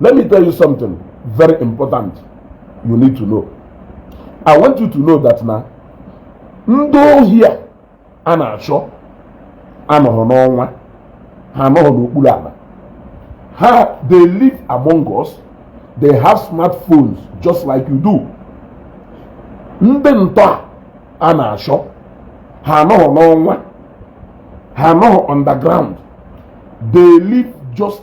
Let me tell you something very important you need to know. I want you to know that na ndị ohi a a na-achọ anọhọ n'ọnwa ha anọhọ n'okpuru ala ha they live among us they have smartphones just like you do ndị ntọ a na-achọ ha anọhọ n'ọnwa ha anọhọ underground they live just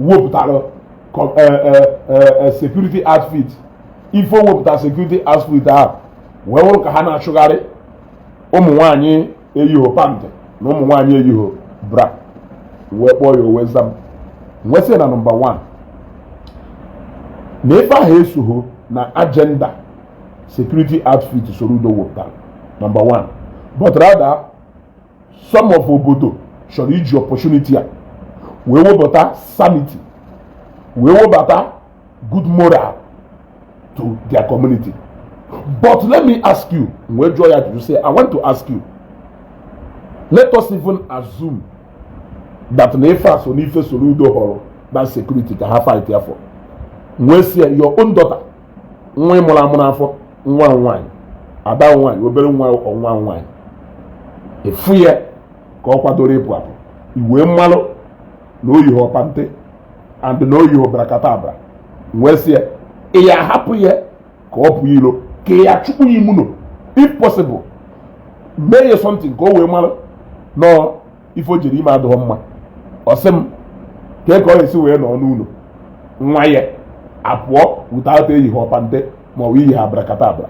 wepụtara e, e, e, security outfit ife o wepụtara security outfit ahụ wee wụrụ ka ha na-achụgharị ụmụ nwaanyị eyiho pant na ụmụ nwaanyị eyiho bra m wee kpọọ ya o wee za m m wee sị na nọmba 1 na ife ahụ esoho na agenda security outfit Soludo wepụtara nọmba 1 but rather some of obodo chọrọ iji opportunity a wee webata sanity wee webata good moral to their community but let me ask you m wee jụọ ya sị i want to ask you let us even assume that na ife a so na ife Soludo họrọ that security ka ha fight ya for m wee sị ya your own daughter nwa ị mụrụ amụ n'afọ nwa nwaanyị ada nwaanyị obere nwa nwaanyị ị fụ ya ka ọ kwadoro ịpụ apụ i wee malụ na o yiho pant and na o yiho brakatabra m wee sị ya ị ya-ahapụ ya ka ọ pụọ ilo ka ị ya-achụkwu ya ime ụnọ if possible mee ya something ka o wee mara no ife o jere ime adịhọ mma ọ sị m kee ka ọ ga-esi wee nọ n'ụnọ nwa ya apụọ without eyiho pant ma ọ bụ eyiho brakatabra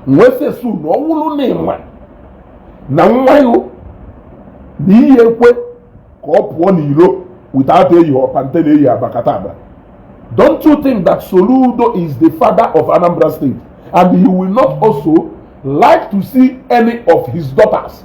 m wee sị so na ọ wụrụ na ị ma na nwa ya na iyi ekwe ka ọ pụọ n'iro without eyiho pant na eyiho brakatabra don't you think that Soludo is the father of Anambra State and he will not also like to see any of his daughters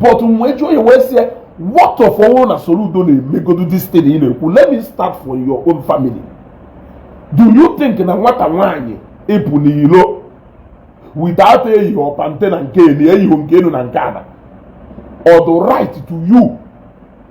but m wee jụọ ya wee sị ya what of ọ wụrụ na Soludo na-emegodu this thing ị na-ekwu let me start from your own family do you think na nwata nwaanyị ịpụ n'ilo without eyiho pant na nke elu eyiho nke enu na nke ana ọ dị right to you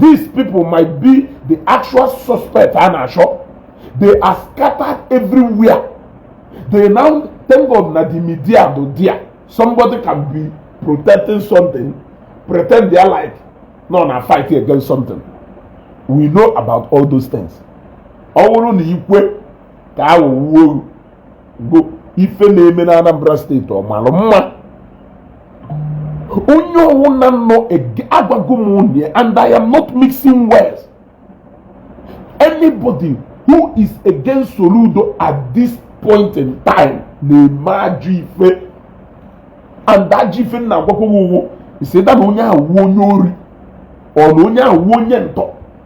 these people might be the actual suspect a na-achọ they are scattered everywhere they now thank God na the media bụ there somebody can be protecting something pretend they are like no na fight against something we know about all those things ọ bụrụ na ikwe ka a ghọgbuo bụ ife na-eme na Anambra State ọ mara mma onye ọwụna nọ agwago m unu and I am not mixing words anybody who is against Soludo at this point in time na-eme ajọ ife and ajọ ife m na-agwakwa gị is that na onye a wụ onye ori or na onye a wụ onye ntọ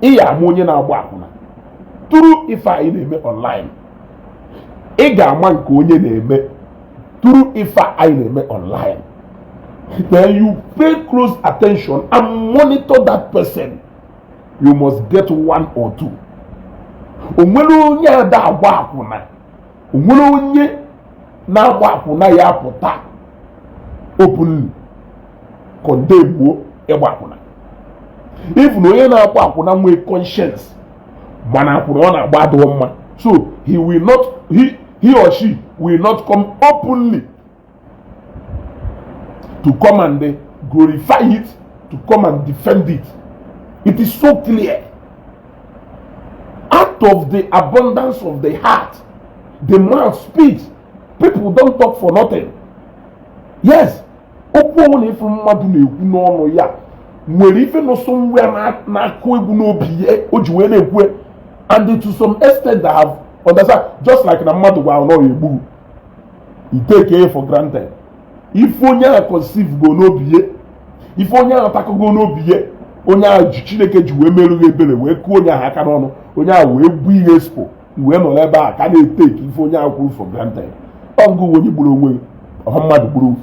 ị ya ama onye na-agba akwụna through ife anyị na-eme online ị ga-ama nke onye na-eme through ife anyị na-eme online then you pay close attention and monitor that person you must get one or two o nwere onye ada agba akwụna o nwere onye na-agba akwụna ya apụta openly condemnuo ịgba akwụna even onye na-agba akwụna nwee conscience ma na akwụna ọ na-agba adịrọ mma so he will not he, he or she will not come openly to come and eh, glorify it, to come and defend it. It is so clear. Out of the abundance of the heart, the mouth speaks. People don't talk for nothing. Yes, okwu ọwụna ị fụrụ mmadụ na-ekwu n'ọnụ ya nwere ife nọ somewhere na-akụ egwu n'obi ya o ji wee na-ekwu and to some extent that I have understand just like na mmadụ gwara na ọ ya egbu gị i tekie ya for granted ife onye a conceivego n'obi ya ife onye a takụgo n'obi ya onye a ji chineke ji wee merụ gị ebere wee kụọ onye ahụ aka n'ọnụ onye a wee gbuo ihe expo wee nọrọ ebe a ka na-eteki ife onye ahụ kwuru for granted ọ gị wụ onye gburu onwe gị ọhọ mmadụ gburu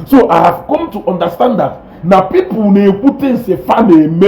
so i have come to understand that na people na-ekwu things fa na-eme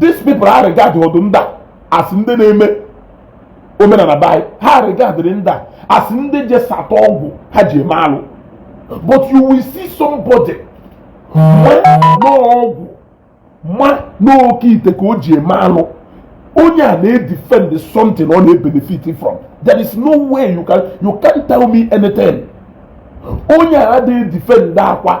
these people ha regardọdụ ndị a as ndị na-eme omenana be anyị ha regardịrị ndị a as ndị je sata ọgwụ ha ji eme alụ but you will see somebody ma na ọgwụ ma na oke ite ka o ji eme alụ onye a na-edefend something ọ na-ebenefit from there is no way you can you can't tell me anything onye a na-edefend akwa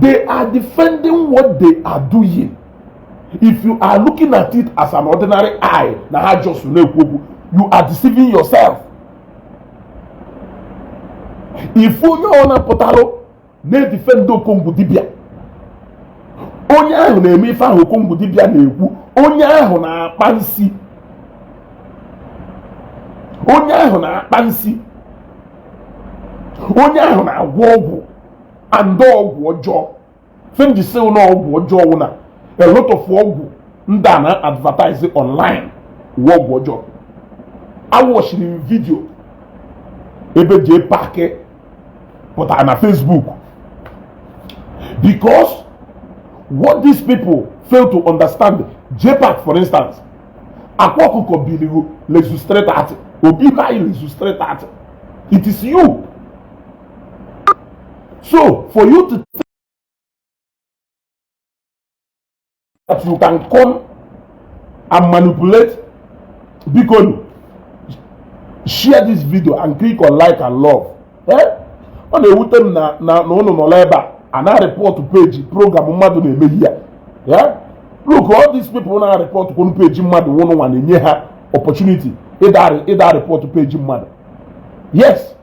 They are defending what they are doing. If you are looking at it as an ordinary eye, na ha just na-ekwu okwu, you are deceiving yourself. If onye ọwụna pụtalụ na-edefend Okongwu dibịa, onye ahụ na-eme ife ahụ Okongwu dibịa na-ekwu, onye ahụ na-akpa nsi, onye ahụ na-akpa nsi, onye ahụ na-agwọ ọgwụ. and ọgwụ ọjọọ ife m ji sị na ọgwụ ọjọọ wụ na a lot of ọgwụ ndị a na advertise online wụ ọgwụ ọjọọ awatchiri m video ebe JPAC pụtara na Facebook because what these people fail to understand JPAC for instance akwa ọkụkọ biligo lezustrate atị obi ha lezustrate atị it is you So, for you to think that you can come and manipulate bikonu, share this video and click on like and love. Eh? ọ na-ewute m na ụnụ nọrọ ebe a na-arịpọtụ page program mmadụ na-eme here eh? look all these people na-arịpọtụ kwonu peji mmadụ ọ wụ ụnụnwa na-enye ha opportunity ịna-arịpọtụ peji mmadụ yes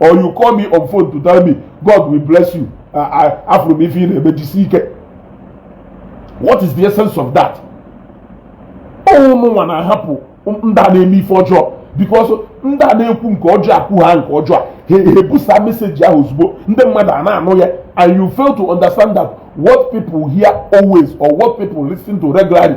or you call me on phone to tell me God will bless you afụrụ m ife ị na-eme jisi ike what is the essence of that ọ wụ ụnụnwa na-ahapụ ndị a na-eme ife ọjọọ because ndị a na-ekwu nke ọjọọ ha kwuhaa nke ọjọọ ha ebusa message ahụ ozugbo ndị mmadụ a na-anụ ya and you fail to understand that what people hear always or what people listen to regularly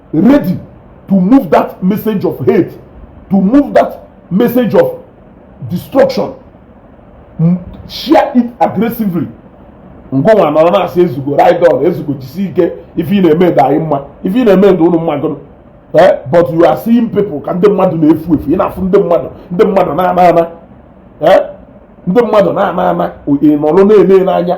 ready to move that message of hate to move that message of destruction share it aggressively ngịnwa nọrọ na-asị Ezeugo ride on Ezeugo jisi ike ife ị na-eme dị anyị mma ife ị na-eme dị ụnụ mma gụnụ eh, but you are seeing people ka ndị mmadụ na-efu efu ị na-afụ ndị mmadụ ndị mmadụ na-ana ana eh, ndị mmadụ na-ana ana ị nọrọ na-ele n'anya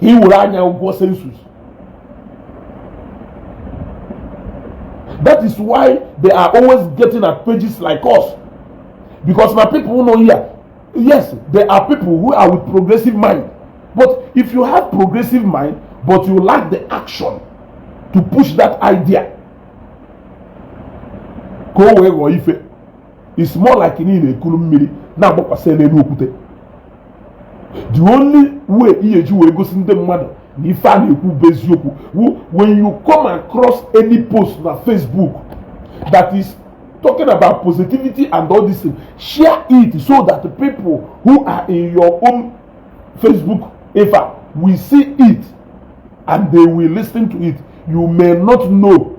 ka ị were anya ụgwọ sensus that is why they are always getting at pages like us because na people who know here yes there are people who are with progressive mind but if you have progressive mind but you lack the action to push that idea ka o wee ghọọ ife it's more like na ị na-ekuru mmiri na-agbakwasị n'elu okwute the only way ị ga-eji wee gosi ndị mmadụ na ife a na-ekwu bụ eziokwu when you come across any post na Facebook that is talking about positivity and all this thing share it so that the people who are in your own Facebook ife will see it and they will listen to it you may not know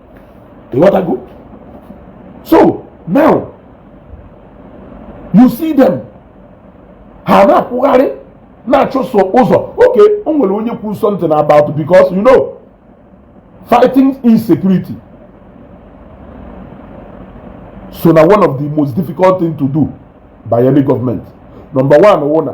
ịghọtago so now you see them ha na-akwụgharị na-achụso ụzọ okay o nwere onye kwuru something about because you know fighting insecurity so na one of the most difficult thing to do by any government number one wụ na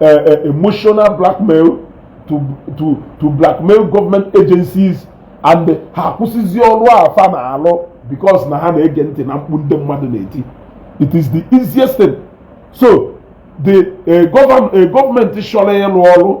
uh, uh, emotional blackmail to, to, to blackmail government agencies and ha akwụsịzi ọrụ a fa na-alụ because na ha na-ege ntị na mkpu ndị mmadụ na-eti it is the easiest thing so the uh, government, uh, government chọrọ ịrụ ọrụ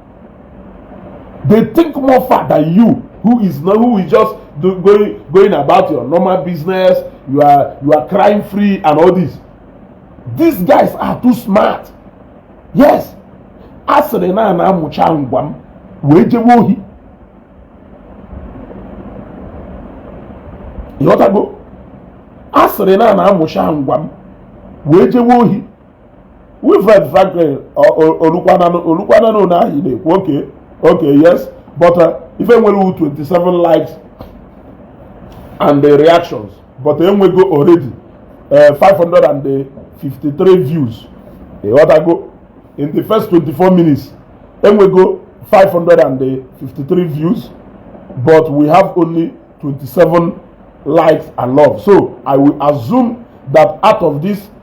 they think more far than you who is not who is just do, going going about your normal business you are you are crime free and all this these guys are too smart yes a sịrị na a na-amụcha ngwa m wee jewe ohi ịghọtago a sịrị na a na-amụcha ngwa m wee jewe ohi Wilfred Franklin olukwananụ na ahị na-ekwu oke oke yes but uh, ife nwere 27 likes and the reactions but enwego already 553 uh, views ịghọtago in the first 24 minutes enwego 553 views but we have only 27 likes and love so i will assume that out of this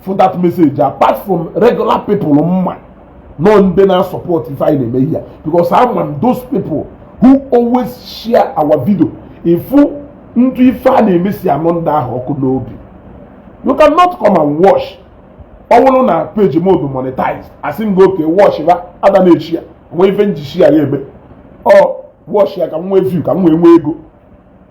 for that message apart from regular people m ma na ọ ndị na support ife anyị na-eme here because ama m those people who always share our video ị fụ ndị ife a na-eme si anụ ndị ahụ ọkụ n'obi you cannot come and watch ọ bụrụ na page m ọ dụ monetized asị m gị okay watch ba ada na-eshare nwee ife m ji share ya eme ọ watch ya ka m nwee view ka m nwee nwee ego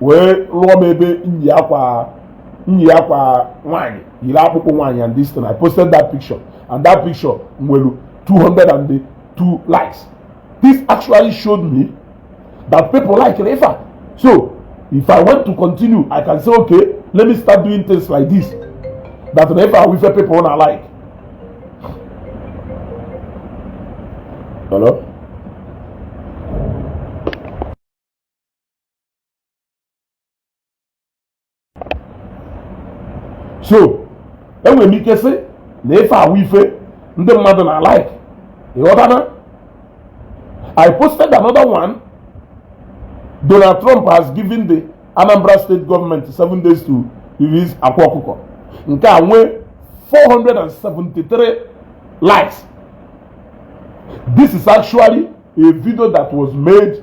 wee lụọ m ebe nyi akwa nyi akwa nwaanyị yiri akpụkpọ nwaanyị and this thing I posted that picture and that picture nwere 202 likes this actually showed me that people like it ifa so if I want to continue I can say okay let me start doing things like this that na ifa wife people na like hello. so enwere m ike sị na ife a wụ ife ndị mmadụ na like ịghọtana I posted another one Donald Trump has given the Anambra State government seven days to release Akwa Ọkụkọ nke a nwee 473 likes this is actually a video that was made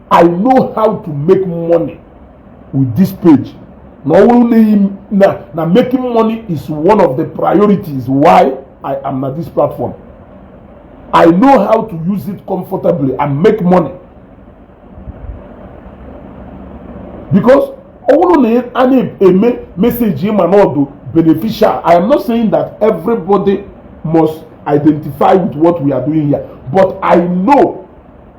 I know how to make money with this page na ọ bụrụ na na na making money is one of the priorities why I am na this platform I know how to use it comfortably and make money because ọ bụrụ na a na-eme message ị ma na ọ dụ beneficial I am not saying that everybody must identify with what we are doing here but I know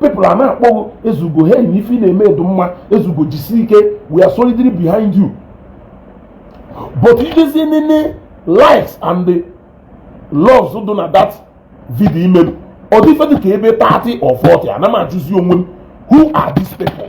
people a na-akpọ ghị Ezugo hey ife ị na-eme dụ mma Ezugo jisi ike we are solidly behind you but i jezie nene likes and the loves dị na that video i melu ọ dị ife dị ka ebe 30 or 40 ana m ajụzi onwe m who are these people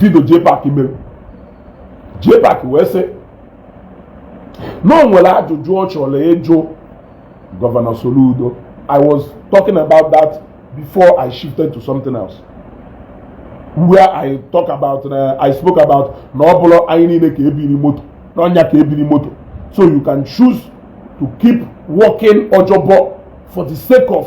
vidio JPAC mere JPAC wee sị na o nwere ajụjụ ọ chọrọ ịjụ gọvanọ Soludo I was talking about that before I shifted to something else where I talk about uh, I spoke about na ọ bụrụ anyị niile ka ebiri moto n'ọnya ka ebiri moto so you can choose to keep working ojobo for the sake of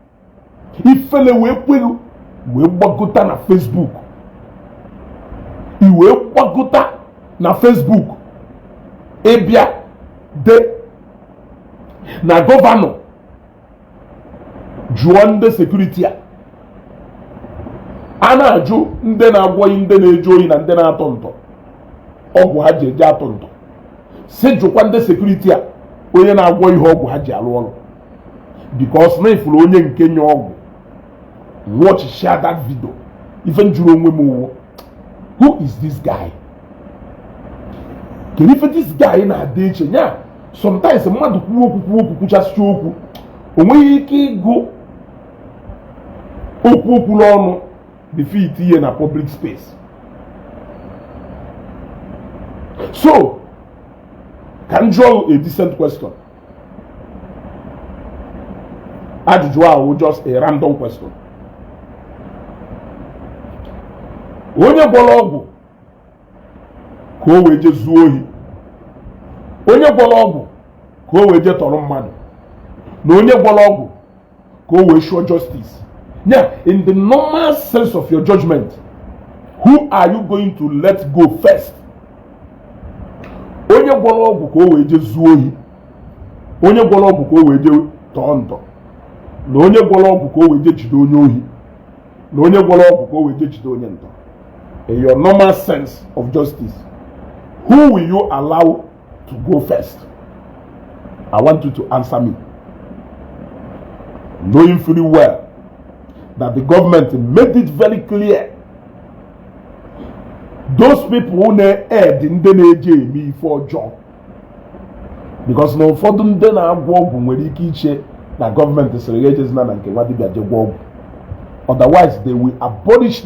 ifele wee kwelu i wee gbagota na Facebook i wee gbagota na Facebook ị bịa dee na gọvanọ jụọ ndị sekuriti a a na-ajụ ndị na-agwọrị ndị na-eje oyi na ndị na-atọ ntọ ọgwụ ha ji eje atọ ntọ sị jụkwa ndị sekuriti a onye na-agwọ ihe ọgwụ ha ji alụ ọrụ because na ifuru onye nke nye ọgwụ watch share that video ife m jụrụ onwe m wụ who is this guy kedu ife this guy na-adị eche nya sometimes mmadụ kwuo okwu kwuo okwu kwuchasịcha okwu o nweghị ike ịgụ okwu o kwulu ọnụ befit ihe na public space so ka m jụọ a decent question ajụjụ ahụ just a random question onye gwọrọ ọgwụ ka o wee je zuo ohi onye gwọrọ ọgwụ ka o wee je tọrọ mmadụ na onye gwọrọ ọgwụ ka o wee ensure justice yeah in the normal sense of your judgment who are you going to let go first onye gwọrọ ọgwụ ka o wee jee zuo ohi onye gwọrọ ọgwụ ka o wee jee tọọ ntọ na onye gwọrọ ọgwụ ka o wee jee jide onye ohi na onye gwọrọ ọgwụ ka o wee jee jide onye ntọ in your normal sense of justice who will you allow to go first i want you to answer me knowing fully well that the government made it very clear those people who na-aid ndị na-eje eme ife ọjọọ because na ụfọdụ ndị na-agwọ ọgwụ nwere ike iche na gọọmenti sịrị ha ejezina na nke nwa dibịa je gwọọ ọgwụ otherwise they will abolish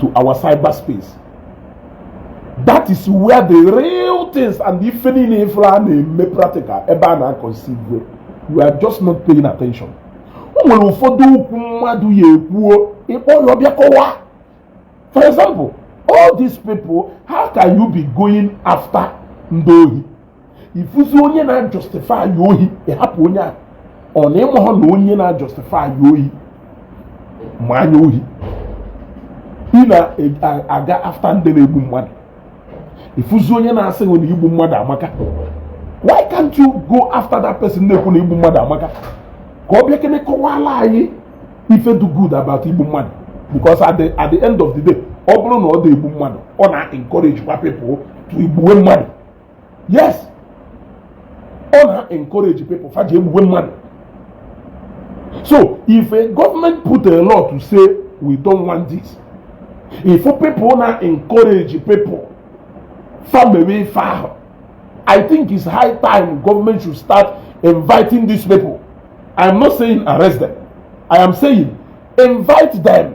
to our cyberspace that is where the real things and the ife niile ị fụlụ a na-eme practical ebe a na-aconceive you are just not paying attention o nwere ụfọdụ okwu mmadụ ya-ekwuo ị kpọọ ya ọ bịa kọwaa for example all these people how can you be going after ndị ohi i fuzi onye na-ajustify ohi ị hapụ onye a ọ na ị mahụ na onye na-ajustify ohi ma anya ohi ị na-aga after ndị na-egbu mmadụ i fuzi onye na-asị gị na igbu mmadụ amaka why can't you go after that person na-ekwu na igbu mmadụ amaka ka ọ bịakene kọwaala anyị ife dị good about igbu mmadụ because at the, at the end of the day ọ bụrụ na ọ dị egbu mmadụ ọ na-encourage kwa people to igbuwe mmadụ yes ọ na encourage people fa ji egbugbe mmadụ so if a government put a law to say we don't want this if people na encourage people fa mewe ife ahụ i think it's high time government should start inviting these people i am not saying arrest them i am saying invite them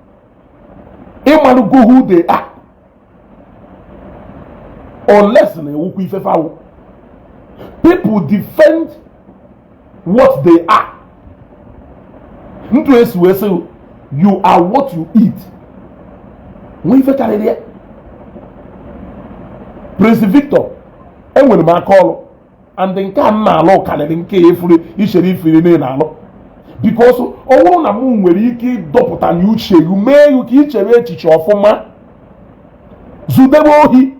ị malụgo who they are unless na ewukwa ife fa wụ people defend what they are etu e si wee sị you are what you eat nwee ife karịrị ya Prince Victor enwere m aka ọrụ and nke a na-alụ karịrị nke ya efuru ichere ifiri na-alụ because ọ bụrụ na mụ nwere ike ịdọpụta na uche gị mee gị ka ichere echiche ọfụma zudebe ohi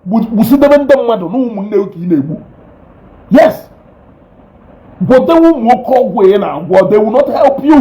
gbusidebe ndị mmadụ na ụmụnne gị ka ị na-egbu yes gwọdewe ụmụ oke ọgwụ ị na-agwọ they will not help you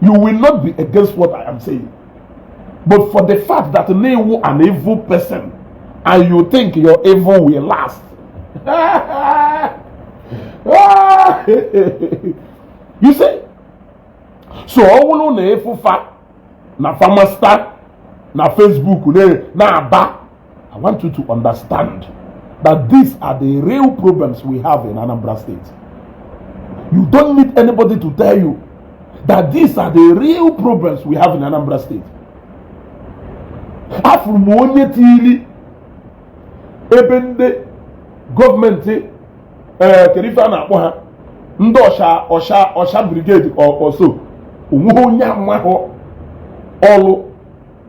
you will not be against what I am saying. But for the fact that you an evil person and you think your evil will last. you see? So ọ bụrụ na ịfụfa na famasta na Facebook na-aba I want you to understand that these are the real problems we have in Anambra State. You don't need anybody to tell you that these are the real problems we have in Anambra State. Afụrụ m onye tiri ebe ndị gọọmenti ee kedu ife a na-akpọ ha ndị ọcha ọcha ọcha brigade ọsọ onweghị onye amahụ ọlụ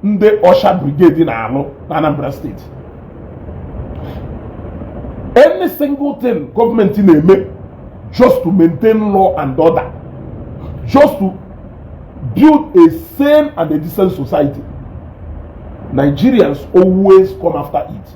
ndị ọcha brigade na-alụ na Anambra State any single thing gọọmenti na-eme just to maintain law and order just to build a sane and a decent society Nigerians always come after it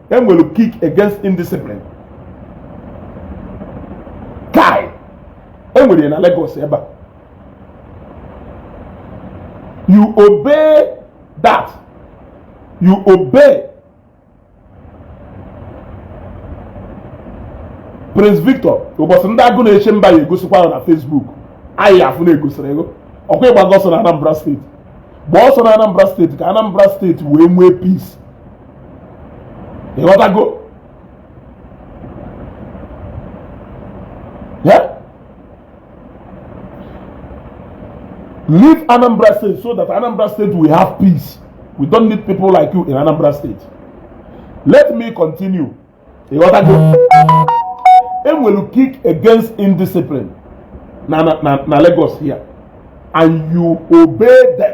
enwere Kick Against Indiscipline KAI enwere ya na Lagos ebe a you obey that you obey Prince Victor ụbọchị ndị Agụnechemba ya-egosikwa gị na Facebook anyị afụ na egosiri gị ọkwa ịgbago ọsọ na Anambra State gbaa ọsọ na Anambra State ka Anambra State wee nwee peace ịghọtago leave anambra state so that anambra state will have peace we don't need people like you in anambra state let me continue ịghọtago enwere kick against indiscipline na na na lagos here and you obey them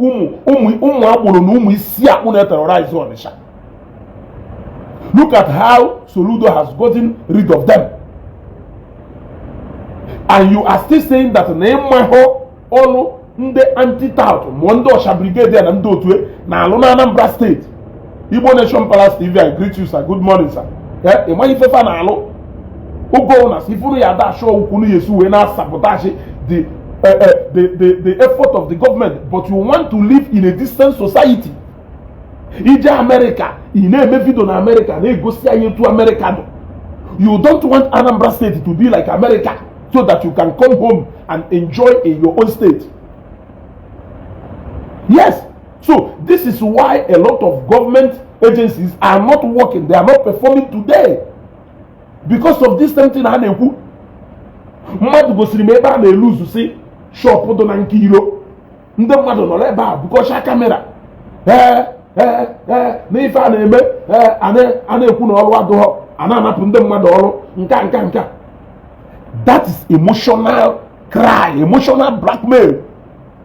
ụmụ agboro na ụmụ isi akpụ na-eterorize Ọnịsha look at how Soludo has gotten rid of them and you are still saying that na ịmahụ ọlụ ndị anti-tout ma ọ ndị ọcha brigade na ndị otu e na-alụ na Anambra State Igbo Nation Palace TV I greet you sir good morning sir eh, ị maghị ife fa na-alụ ogo na si ifuru ya ada achọ ukwu na yes wee na-asabotage the eh, eh, the the the effort of the government but you want to live in a decent society ije America ị na-eme video na America na-egosi anyị etu America dụ you don't want Anambra State to be like America so that you can come home and enjoy in your own state yes So this is why a lot of government agencies are not working, they are not performing today because of this same thing a na-ekwu mmadụ gosiri m ebe a na-eluzusi shop dị na nke iro ndị mmadụ nọ n'ebe a bukọcha camera ee ee ee n'ife a na-eme ee a na-ekwu na ọrụ adụghọ a na-anapụ ndị mmadụ ọrụ nka nka nka that is emotional cry emotional blackmail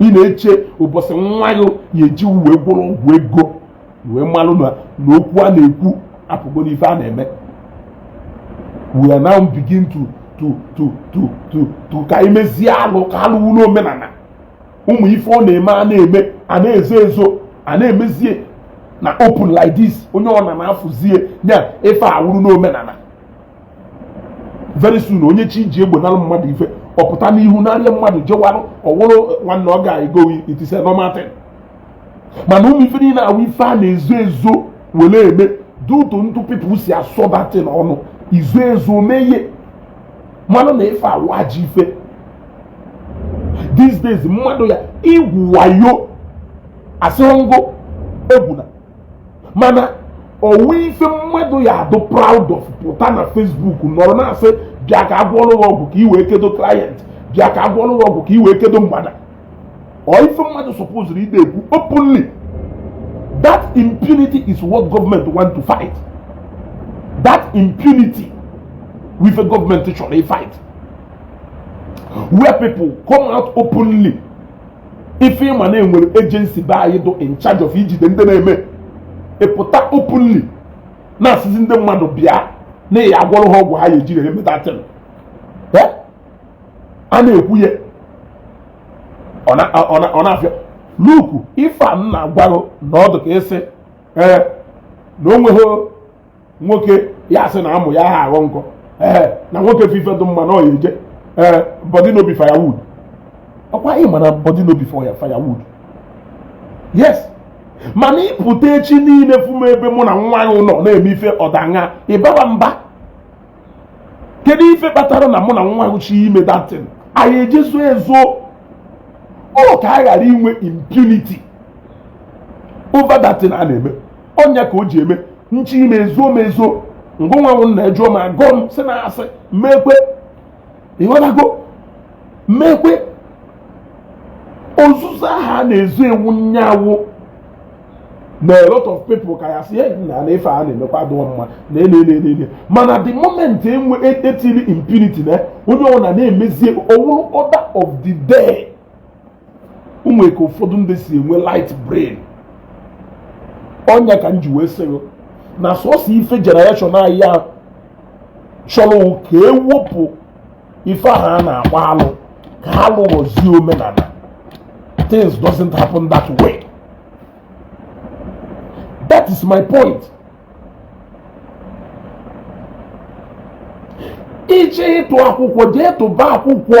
ị na-eche ụbọsị nwa gị ya-eji wee gwọrọ ọgwụ ego wee malụ na okwu a na-ekwu apụgo n'ife a na-eme we are now begin to to ka e mezie alụ ka alụ wụ n'omenana ụmụ ife ọ na-eme a na-eme a na-ezo ezo a na-emezie na open like this onye ọwụna na-afụzie ya ife a wụrụ n'omenana very soon onye chọ iji egbe nalụ mmadụ ife ọ pụta n'ihu narịa mmadụ jewarụ ọ wụrụ nwanne ọ ga-ego it is a normal thing mana ụmụ ife niile a wụ ife a na-ezo ezo were eme due to etu people si asọ that thing ọ nọ izo ezo mee ya malụ na ife a wụ ajọ ife these days mmadụ ya igwu wayo asịrọ m gị egwuna mana ọ wụ ife mmadụ ya-adụ proud of pụta na Facebook nọrọ na-asị bịa ka a gwọọrọ gị ọgwụ ka i wee kedo client bịa ka a gwọọrọ gị ọgwụ ka i wee kedo mgbada ọ ife mmadụ supposurụ ịdị ekwu openly that impunity is what government want to fight that impunity wụ ife government chọrọ ifight where people come out openly ife ị ma na e nwere agency be anyị dụ in charge of ijide ndị na-eme ịpụta openly na-asịzi ndị mmadụ bịa na ya agwọrọ ha ọgwụ ha ya-ejiri ha eme that thing a na-ekwu ya ọ na-afịa nnukwu ife m na-agwa gị na ọ dụ ka ịsị ee na o nweghị nwoke ya-asị na amụ ya ha aghọ nkọ ee na nwoke fụ ife dị mma na ọ ya-eje ee body no be firewood ọkwa ị ma na body no be firewood yes mana ịpụta echi niile fụ m ebe mụ na nwaanyị nọ na-eme ife ọdaṅa ịbaba mba kedu ife kpatara na mụ na nwaanyị chọ ime that thing anyị ejee zoo ezo ọ ka a ghara inwe impunity over that thing a na-eme ọ nya ka o ji eme m chọ ime ezoo m ezo ngịnwa wụ nna ajụọ m agọ m sị na asị m mekwe ị ghọtago mekwe ozuzo ahụ a na-ezo ewu nya wụ na a lot of people ka ya-asị na na ife a na-emekwa adịghị mma na enenenene mana the moment e wee tiri impunity na onye ọbụla na-emezie ọ wụrụ order of the day nwere ka ụfọdụ ndị si enwe light brain ọ nya ka m ji wee sị gị na sọsọ ife generation anyị a chọrọ ka e wepụ ife ahụ a na-akpọ alụ ka alụ ghọzie omenana things doesn't happen that way that is my point ị chọ ịtụ akwụkwọ jee tụba akwụkwọ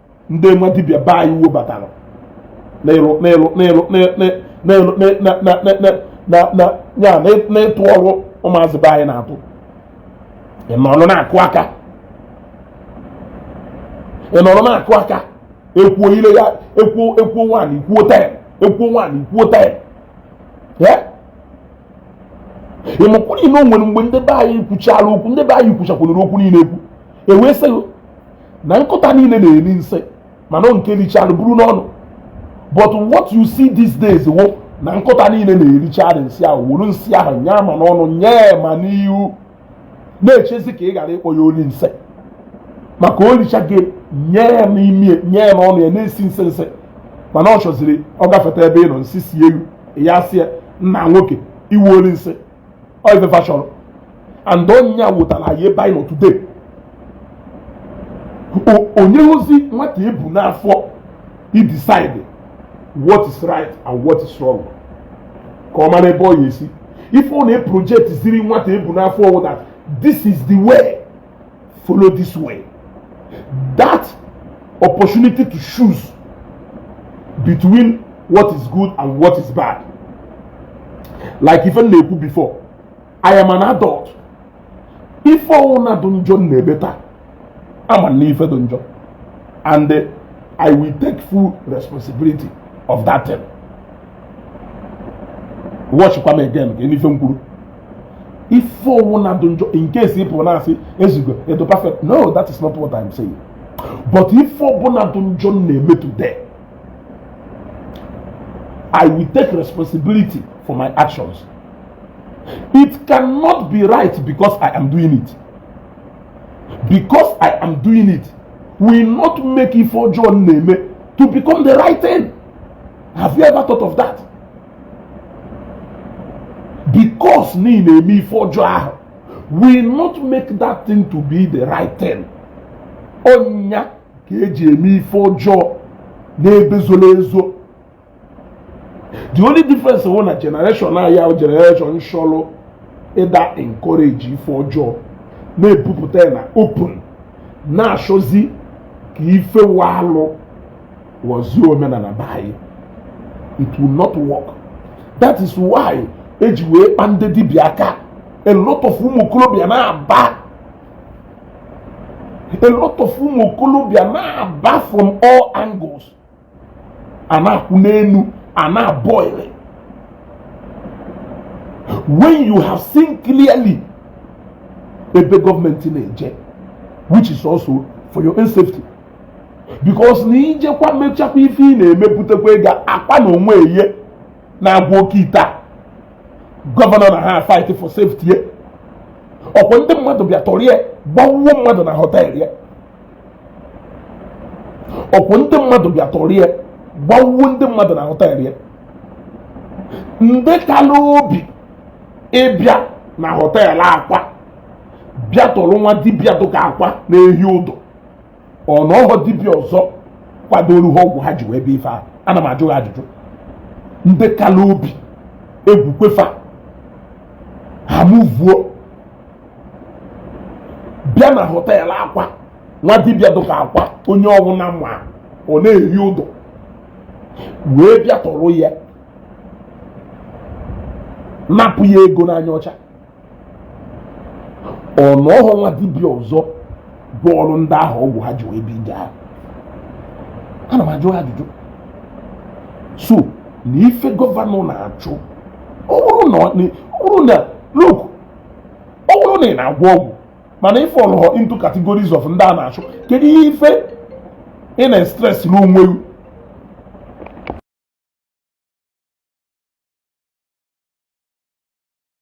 ndị nwa dibịa be anyị wee batara n'ịtụ ọrụ ụmụazị be anyị na-atụ ịnọrọ na-akụ aka ịnọrọ na-akụ aka ekwuo ire ya ekwuo anyị kwuo taya ịmakwanụ na o nwere mgbe ndị be anyị kwuchara okwu ndị be anyị kwuchakwanụrụ okwu niile ekwu ewee sị na nkụta niile na-eri nsị mana nke richara buru n'ọnụ but what you see these days wụ na nkụta niile na-erichara nsị ahụ wuru nsị ahụ nye ma n'ọnụ nye ma n'ihu na-echezi ka ị ghara ịkpọ ya oli nsị maka o richa gị nye ya n'imi nye ya n'ọnụ ya na-esi nsị nsị mana ọ chọziri ọ gafeta ebe ị nọ nsị si elu ya sị ya nna nwoke ị wụ oli nsị ọ ife fa chọrọ and ọ nya wetara anyị ebe anyị nọ today o nyerọzi nwata ebu n'afọ ịdecide what is right and what is wrong ka ọ mara ebe ọ ya esi ife ọ na-eproject ziri nwata ebu n'afọ wụ that this is the way follow this way that opportunity to choose between what is good and what is bad like ife m na-ekwu before i am an adult ife ọwụna dị njọ m na-eme taa ama m na ife dị njọ and eh, i will take full responsibility of that thing watchkwa m again ka ị nụ ife m kwuru ife ọwụna dị njọ in case ị pụrụ na-asị ezugo edo perfect no that is not what I'm saying but ife ọbụna dị njọ m na-eme today I will take responsibility for my actions it cannot be right because I am doing it because I am doing it will not make ife ọjọọ m na-eme to become the right thing have you ever thought of that? because na ị na-eme ife ọjọọ ahụ will not make that thing to be the right thing ọ nya ka eji eme ife ọjọọ n'ebe zoro ezo the only difference wụ na generation a ya wụ generation shọlụ ịda encourage ife ọjọọ na-ebupụta ya na open na-achọzi ka ife wụ alụ ghọzie omenala be anyị it will not work that is why eji wee kpa ndị dibịa aka a lot of ụmụ okorobịa na-aba a lot of ụmụ okorobịa na-aba from all angles a na-akwụ n'elu a na-aboil when you have seen clearly ebe government na-eje which is also for your own safety because na ị jekwa mechakwa ife ị na-emepụtakwa ego Akwa na onwe ye na-agwọ oke ite a gọvanọ na ha fight for safety ya ọkwa ndị mmadụ bịa tọrọ ya gbawuo mmadụ na hotel ya ọkwa ndị mmadụ bịa tọrọ ya gbawuo ndị mmadụ na hotel ya ndị kala obi ịbịa na hotel Akwa bịa tọrọ nwa dibịa dụka Akwa na-ehi ụdụ ọ na ọghọ dibịa ọzọ kwadoro ha ọgwụ ha ji wee bịa ife ahụ ana m ajụ ha ajụjụ ndị kala obi egwu kwefa ha mụvuo bịa na hotel Akwa nwa dibịa dụka Akwa onye ọwụna ma ọ na-ehi ụdụ wee bịa tọrọ ya napụ ya ego n'anya ọcha ọ na ọghọ nwa dibịa ọzọ gwọọrụ ndị ahụ ọgwụ ha ji wee bịa ije ahụ ana m ajụ ajụjụ so na ife gọvanọ na-achụ ọ bụrụ na look ọ bụrụ na ị na-agwọ ọgwụ mana ị fallụghọ into categories of ndị a na-achụ kedu ihe ife ị na-estress n'onwe gị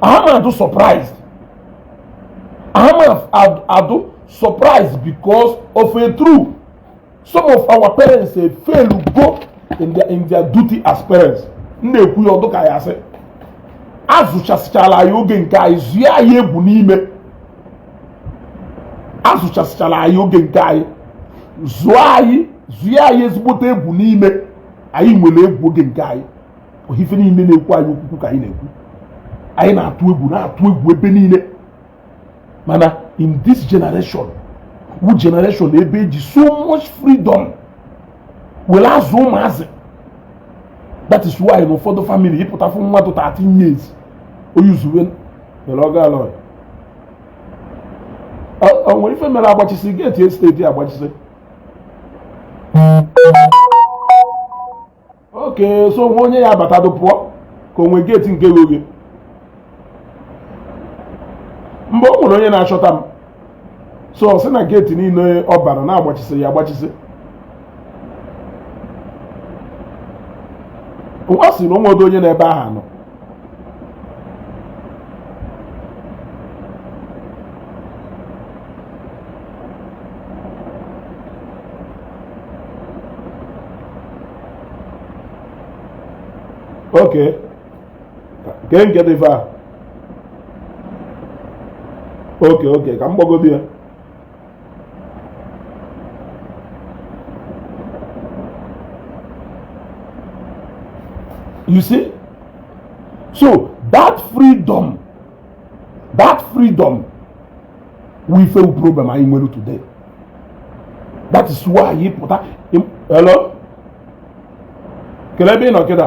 ama adụ surprised ama ad- adụ surprised because of a truth some of our parents eh, failugo in their, in their duty as parents m na-ekwu ya ọ dụ ka ya sị azụchasịchala anyị oge nke anyị zụọ anyị egwu n'ime azụchasịchala anyị oge nke anyị zụọ anyị zụọ anyị ezigbote egwu n'ime anyị nwere egwu oge nke anyị ife niile na-ekwu anyị okwukwu ka anyị na-ekwu anyị na-atụ egwu na-atụ egwu ebe niile mana in this generation wụ generation ebe e ji so much freedom were azụ ụmụazị that is why na ụfọdụ family ị pụta fụ nwa dị 13 years o yuzuwe vulgar words o nwere ife mere agbachisi gate estate agbachisi okay so o nwe onye ya-abatadụ pụọ ka o nwe gate nke ghe oghe mgbe o nwere onye na-achọta m so ọ sị na gate niile ọ bara na-agbachisi ya agbachisi ọ sị na o nwedụ onye n'ebe aha nọ okay ke nke dị far okay okay ka m gbagodo ya You see? So that freedom, that freedom wụ ife problem anyị nwere today. That is why anyị pụta hello kele ebe ị nọ kịta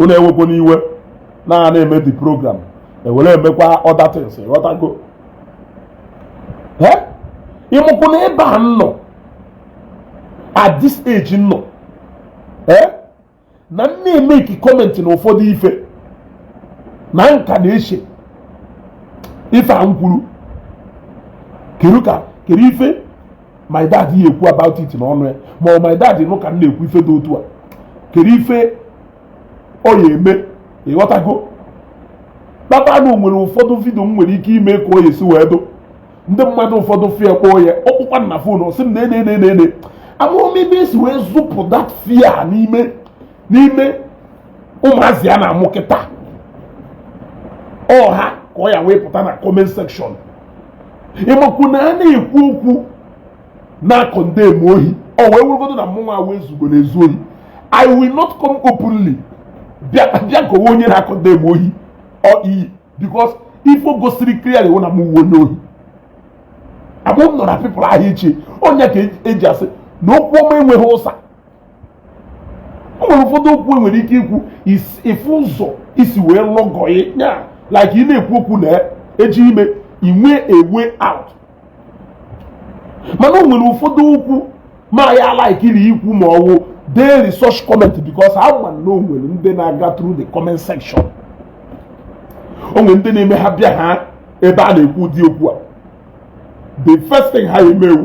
unu ewekwona iwe na a na-eme the program ewere emekwa other things ghọtago ị makwu na ebe a m nọ at this age m nọ na m na-emeki comment na ụfọdụ ife na m ka na-eche ife a m kwuru kedu ka kedu ife my dad ya ekwu about it n'ọnụ ya ma my dad nụ ka m na-ekwu ife dị otu a kedu ife ọ ya eme ịghọtago kpata na o nwere ụfọdụ video m nwere ike ime ka ọ ya-esi wee dụ ndị mmadụ ụfọdụ fụ ya kpọọ ya ọ kpọkwa m na phone sị m na ene ene ene amarọ m ebe esi wee zụpụ that fear n'ime n'ime ụmụazị a na-amụ kịta ọha ka ọ ya wee pụta na comment section ị makwu na a na-ekwu okwu na-acondemn ohi ọ wee wụgodu na mụnwa wee zugo na-ezu ohi i will not come openly bịa kọwe onye na-acondemn ohi or iyi because ife o gosiri clearly wụ na mụ wụ onye ohi ama m na our people aha eche ọ nya ka eji asị na okwu ọma enweghị ụsa o nwere ụfọdụ okwu e nwere ike ikwu ị fụ ụzọ i si wee lọgọ ya like ị na-ekwu okwu na eji ime i nwee a way out mana o nwere ụfọdụ okwu ma ya likeri ikwu ma ọ wụ deeri such comment because ha ma na o nwere ndị na-aga through the comment section o nwere ndị na-eme ha bịa ha ebe a na-ekwu ụdị okwu a the first thing ha ya-eme wụ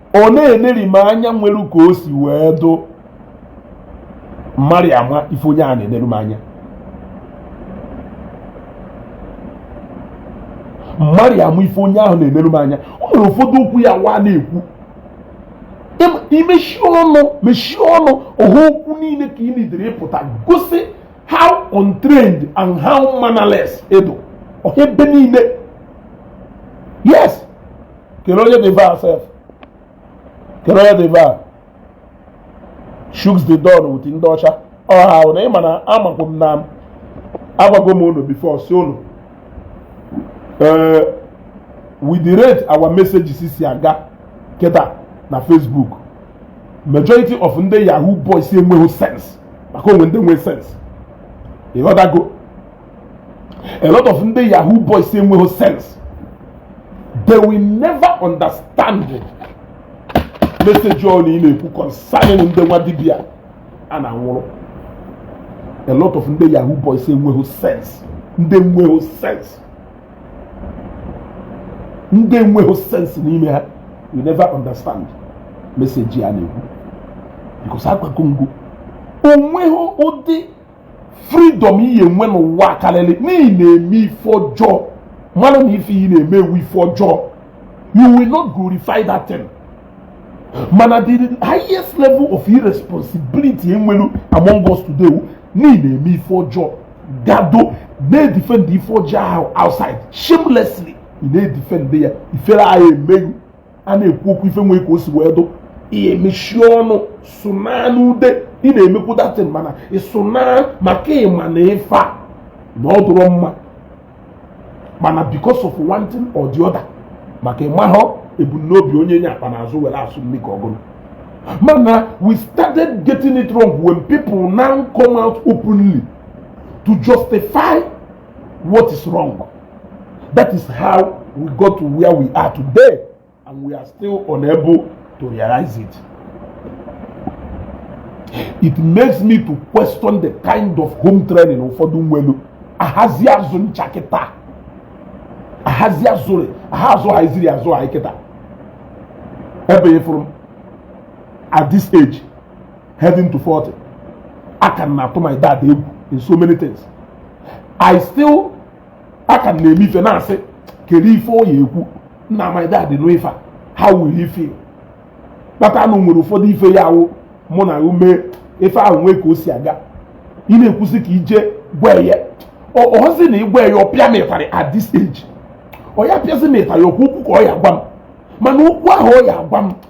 ọ na-eneri m anya o nwere ka o si wee dụ mmadụ ama ife onye a na-enere m anya mmadụ ama ife onye ahụ na-enere m anya o nwere ụfọdụ okwu ya wa na-ekwu i mechie ọnụ mechie ọnụ ọha okwu niile ka ị needịrị ịpụta gosi how untrained and how mannerless ị dụ ọha ebe niile yes kere onye dị baa sef kere onye dị baa shugs the don with ndị ọcha ọha ahụ na ịma na amakwu m na agwago m unu before sị unu with the rate our messages si aga kịta na facebook majority of ndị yahoo boys enweghị sense maka o nwere ndị nwee sense ịghọtago a lot of ndị yahoo boys enweghị sense they will never understand message anyị na-ekwu concerning ndị nwa dibia a na-anwụrụ a lot of ndị yahoo boys enweghị sense ndị enweghị sense ndị enweghị sense n'ime ha will never understand message a na-ekwu because agwago m gị o nweghị ụdị freedom ị ya enwe n'ụwa karịrị na ị na-eme ife ọjọọ malụ na ife ị na-eme wụ ife ọjọọ you will not glorify that thing mana the highest level of irresponsibility e nwelu among us today na ị na-eme ife ọjọọ gado na-edefend ife ọjọọ ahụ outside shamelessly ị na-edefend ya ifere ahụ emeghị a na-ekwu okwu ife nwee ka o si wee dụ i mechie ọnụ sụnaa n'ude ị na-emekwu that thing mana ịsụnaa maka ị ma na ife a na ọ dụrọ mma mana because of one thing or the other maka ị mahọ ebumnobi onye nye akpa n'azụ were asụ mmiri ka ọgụrụ mana we started getting it wrong when people now come out openly to justify what is wrong that is how we got to where we are today and we are still unable to realize it it makes me to question the kind of home training ụfọdụ nwelu ahazi azụ ncha kịta ahazi azụrị aha azụ ha iziri azụ ha kịta ebe ị fụrụ m at this age heading to 40 a ka m na-atụ my dad egwu in so many things i still a ka m na-eme ife na-asị kedu ife ọ ya ekwu na my dad nụ ife a how will he feel kpata na o nwere ụfọdụ ife ya awụ mụ na-eme ife ahụ nwee ka o si aga ị na-ekwu sị ka ị jee gwa ya ọhụzi na ị gwa ya ọ pịa m ịtarị at this age ọ ya pịazi m ịtarị okwu okwu ka ọ ya gwa m mana okwu ahụ ọ ya gwa m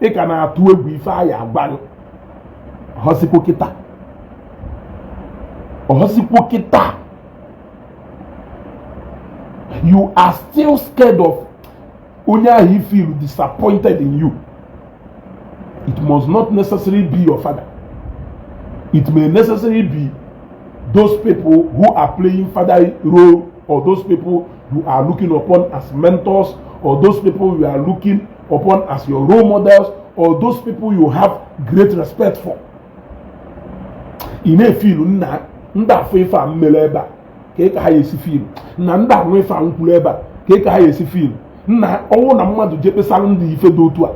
ị ka na-atụ egwu ife anyị agwaghị ọhọsikwo kịta ọhọsikwo kịta you are still scared of onye ahụ you feel disappointed in you it must not necessarily be your father it may necessarily be those people who are playing father role or those people you are looking upon as mentors or those people you are looking upon as your role models or those people you have great respect for ị na-efeel na ndị a fụ ife a m mere ebe a kee ka ha ya esi feel na ndị a nụ ife a m kwuru ebe a kee ka ha ya esi feel na ọ wụ na mmadụ jee kpesara ndị ife dị otu a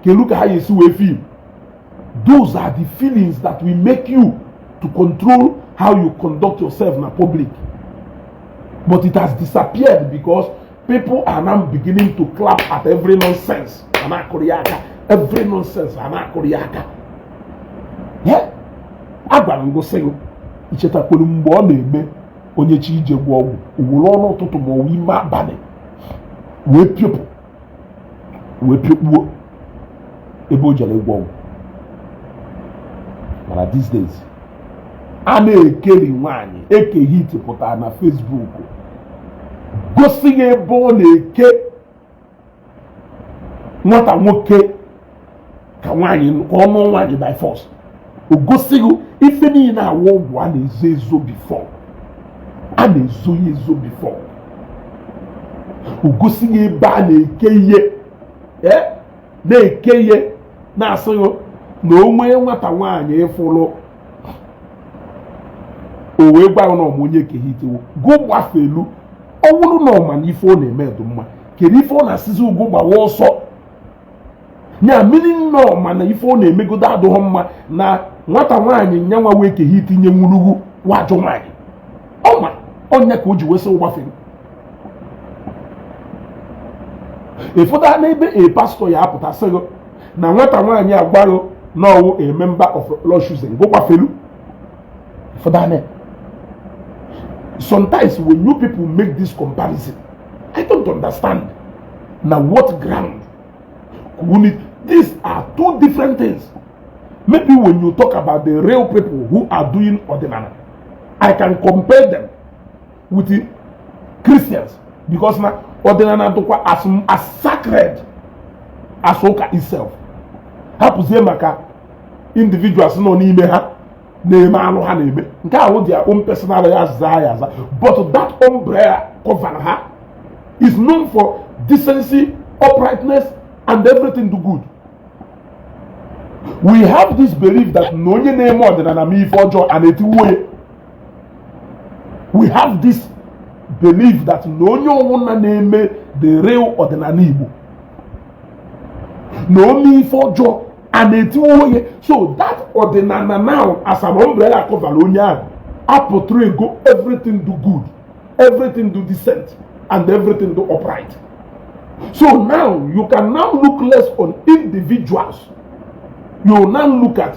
kelu ka ha ya esi wee feel those are the feelings that will make you to control how you conduct yourself na public but it has disappeared because people are now beginning to clap at every nonsense a na-akụrụ ya aka every nonsense a na-akụrụ ya aka agwara m gụ sị gụ i chetakwanụ mgbe ọ na-eme onye chọọ ije gwọọ ọgwụ o were ọnụ ụtụtụ ma ọ wụ ime abalị wee piopụ wee piokpuo ebe o jere ịgwọ ọgwụ mana these days a na-ekeli nwaanyị Eke Hit pụtara na Facebook gosi gị ebe ọ na-eke nwata nwoke ka nwaanyị ka ọ nụ nwaanyị by force o gosi gị ife niile a wụ ọgwụ a na-ezo ezo before a na-ezo ya ezo before o gosi gị ebe a na-eke ya e, na-eke ya na-asị gụ na o nwee nwata nwaanyị ị fụrụ o wee gwa na ọ ma onye Eke Hit wụ gụ gbafelu ọ bụrụ na ọ ma na ife ọ na-eme dị mma kedu ife ọ na-asịzi gụ gbawa ọsọ nya meaning na ọ ma na ife ọ na-emegodo adụghọ mma na nwata nwaanyị nya nwa wụ Eke Hit nyenwuru gụ wụ ajọ nwaanyị ọ ma ọ nya ka o ji wee sị gụ gbafelu ị fụtana ebe a pastor ya-apụta sị gụ na nwata nwaanyị a gwa gị na ọ wụ a member of Lord's Chosen gụ gbafelu ị fụtana sometimes when you people make this comparison i don't understand na what ground k'unu these are two different things maybe when you talk about the real people who are doing ọdịnala i can compare them with the Christians because na ọdịnala dịkwa as as sacred as ụka itself hapụzie maka individuals nọ n'ime ha na-eme alụ ha na-eme nke a wụ their own personal ya zaa ya aza but that umbrella cover ha is known for decency uprightness and everything do good we have this belief that na onye na-eme ọdịnala mee ife ọjọọ ana etiwuo ya we have this belief that na onye ọwụna na-eme the real ọdịnala Igbo na o mee ife ọjọọ ana etiwuo ya so that ọdịnala now as an umbrella cover onye ahụ aportraygo everything do good everything do decent and everything do upright so now you can now look less on individuals you now look at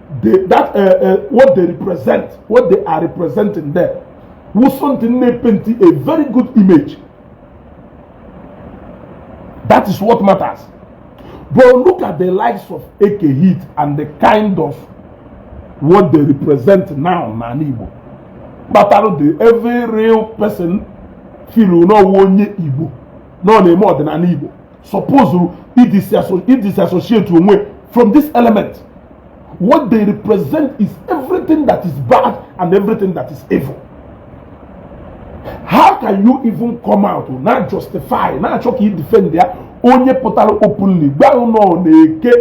the, that uh, uh, what they represent what they are representing there wụ something na-epenti a very good image that is what matters but look at the likes of eke hit and the kind of what they represent now n'ala igbo kpatara the every real person feel na ọ wụ onye igbo na ọ na-eme ọdịnala igbo suppose ịdisassociate onwe from this element what they represent is everything that is bad and everything that is evil how can you even come out na-ajustify na-achọ ka i defendịa onye pụtara openly gwa unu na eke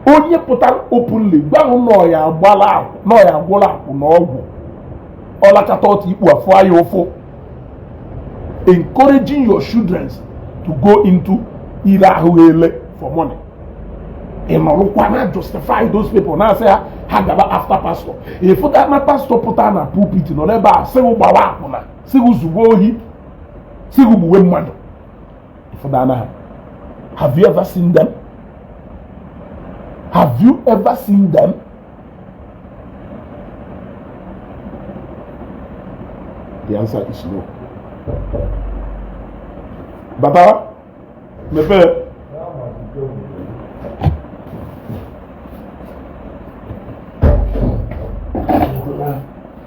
onye pụtara openly gwa ghụ na ọ ya-agbala akwụ na ọ ya-agwọla akwụna ọgwụ ọ lakata ọtụ ikpu afụa ya ụfụ encouraging your children to go into ire ahụ ele for money ị nọrụkwa na-ajustify those people na-asị ha ha gaba after pastor ị fụtana pastor pụta na pulpit nọ n'ebe a sị ghụ gbawa akwụna sị ghụ zuwe ohi sị ghụ gbuwe mmadụ ịfụdana ha have you ever seen them have you ever seen them the answer is no baba mepee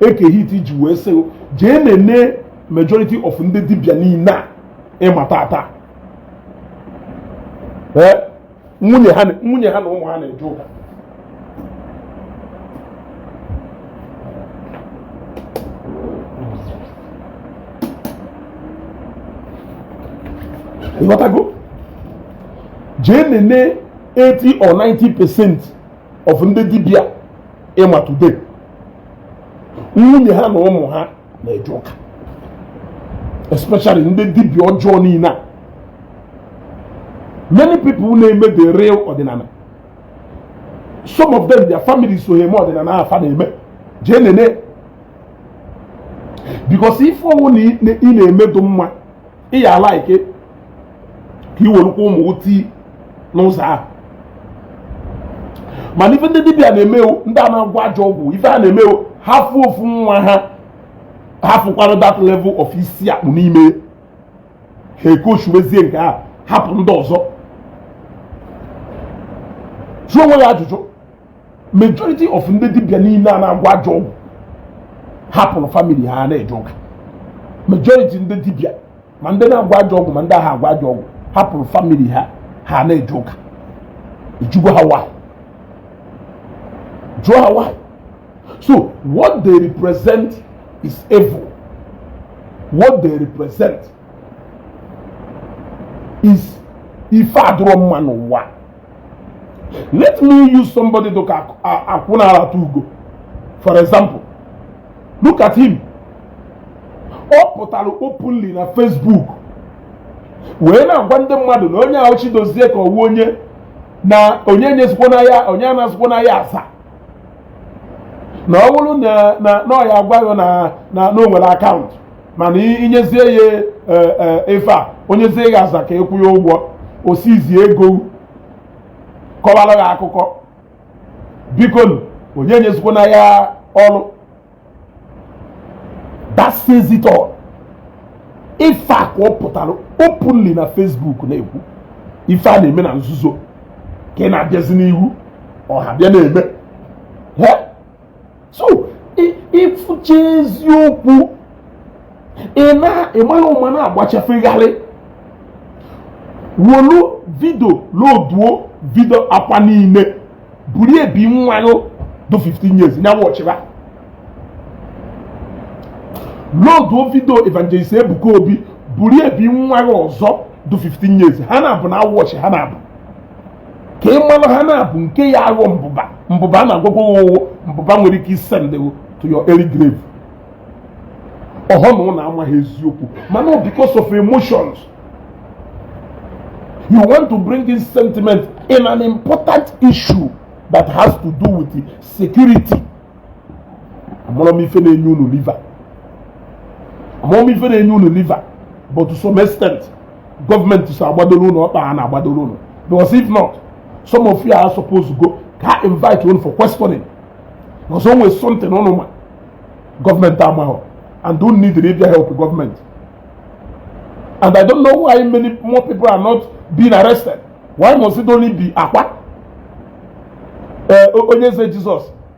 eke hit ji wee sị jee nene majority of ndị dibịa niile a ị ma taata nwunye ha na ụmụ ha na-eje ụka ị ghọtago jee nene 80 or 90 percent of ndị dibịa ị ma today nwunye ha na ụmụ ha na-eje ụka especially ndị dibịa ọjọọ niile a many people na-eme the real ọdịnala some of them their family so ha eme ọdịnala afụ ha na-eme jee nene because ife ọwụna ị na-eme dụ mma ị ya-alike ka i werukwa ụmụ tii n'ụzọ ahụ mana ife ndị dibịa na-eme wụ ndị a na-agwọ ajọ ọgwụ ife ha na-eme wụ ha fụ ofu nwa ha ha fụkwara that level of isi akpụ n'ime ha ecoachiwezie nke a hapụ ndị ọzọ jụọ onwe ya ajụjụ majority of ndị dibịa niile a na-agwọ ajọ ọgwụ hapụrụ family ha na-eje ụka majority ndị dibịa ma ndị na-agwọ ajọ ọgwụ ma ndị aha agwọ ajọ ọgwụ hapụrụ family ha ha na-eje ụka ị jụgwo ha why jụọ ha why so what they represent is evil what they represent is ife adụrọ mma n'ụwa let me use somebody dụ ka akwụna arata ugo for example look at him ọ pụtara openly na Facebook wee na-agwa ndị mmadụ na onye ahụ Chidozie ka ọ wụ onye na onye nyezikwona ya onye anazikwona ya aza na ọ wụrụ na na ọ ya agwa gị na na o nwere akaụntụ mana i nyezie ya e, e, ife a o nyezie gị aza ka ị kwụọ ya ụgwọ o sizie ego kọwara gị akụkọ biko onye nyezikwana ya ọrụ that says it all ife a ka ọ pụtara openly na Facebook na-ekwu ife a na-eme na nzuzo ka ị na-abịazi n'ihu ọha bịa na-eme so ị fụcha eziokwu ị mara ụma na-agbachafegharị wolu vidio loduo vidio Akwa niile buru ebi nwa gị dụ 15 years na-awọchịra loduo vidio evangelist Ebuka Obi buru ebi nwa gị ọzọ dụ 15 years ha na-abụ na-awọchị ha na-abụ ka ị mara ha na-abụ nke ya aghọ mbụba mbụba a na-agwa gị wụ mbụba nwere ike isendi gị to your early grave ọhọ na unu amaghị eziokwu mana because of emotions you want to bring in sentiment in an important issue that has to do with security amarọ m ife na-enye unu liver amarọ m ife na-enye unu liver but to some extent gọọmenti so agbadoro unu ọkpa ha na-agbadoro unu because if not some of you are supposed to go ka ha invite unu for questioning because o nwere something unu ma gọọmenti amaghọ and unu need ịbịa help gọọmenti and i don't know why many more people are not being arrested why must it only be Akwa ee Onye Eze Jesus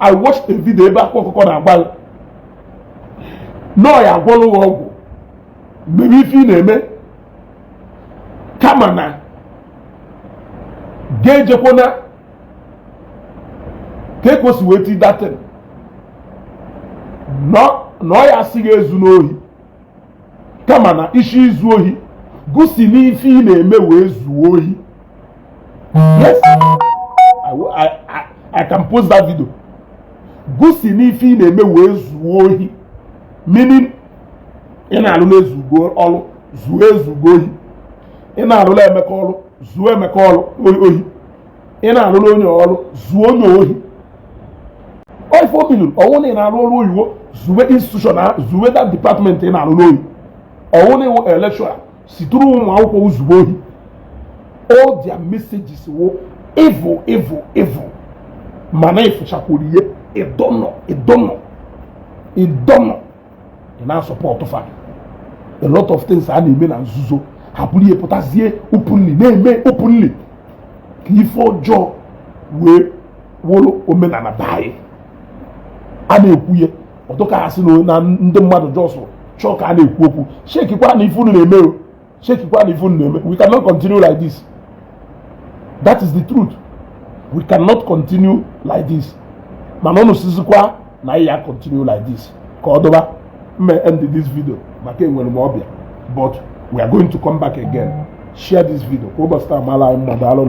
I watched a video ebe Akwa Ọkụkọ na-agwa gị na ọ ya agwọlụ gị ọgwụ mebe ife ị na-eme kama na gị ejekwana ka ekosi wee ti that thing na ọ ya asị gị ezuna ohi kama na ị sị izu ohi gị si n'ife ị na-eme wee zuo ohi yes I, I, I, I can post that video gị si n'ife ị na-eme wee zuo ohi meaning ị na-alụla Ezugo ọrụ zuo Ezugo ohi ị na-alụla Emeka ọrụ zuo Emeka ohi ị na-arụrụ onye ọrụ zuo onye ohi oife o biliri ọ wụ na ị na-arụ ọrụ oyibo zuwe institution ahụ zuwe that department ị na-arụrụ ohi ọ wụ na ị wụ lecturer siturụ ụmụ akwụkwọ ozugbo ohi all their messages were evil evil evil mana ị fụchakwuru ihe ịdọnọ ịdọnọ ịdọnọ ị na-asupport fa a lot of things a na-eme na nzuzo abụrụ ihe pụtazie openly na-eme openly ka ife ọjọọ wee wụrụ omenala be anyị a na-ekwu ya ọ dụ ka a sị na ndị mmadụ just chọọ ka a na-ekwu okwu chekikwa na ife unu na-eme chekikwa na ife unu na-eme we cannot continue like this that is the truth we cannot continue like this mana unu sizikwa na ya continue like this ka ọ dụba m end this video maka enwere m ọbịa but we are going to come back again share this video ka ụbọchị taa mara anyị mma daalụ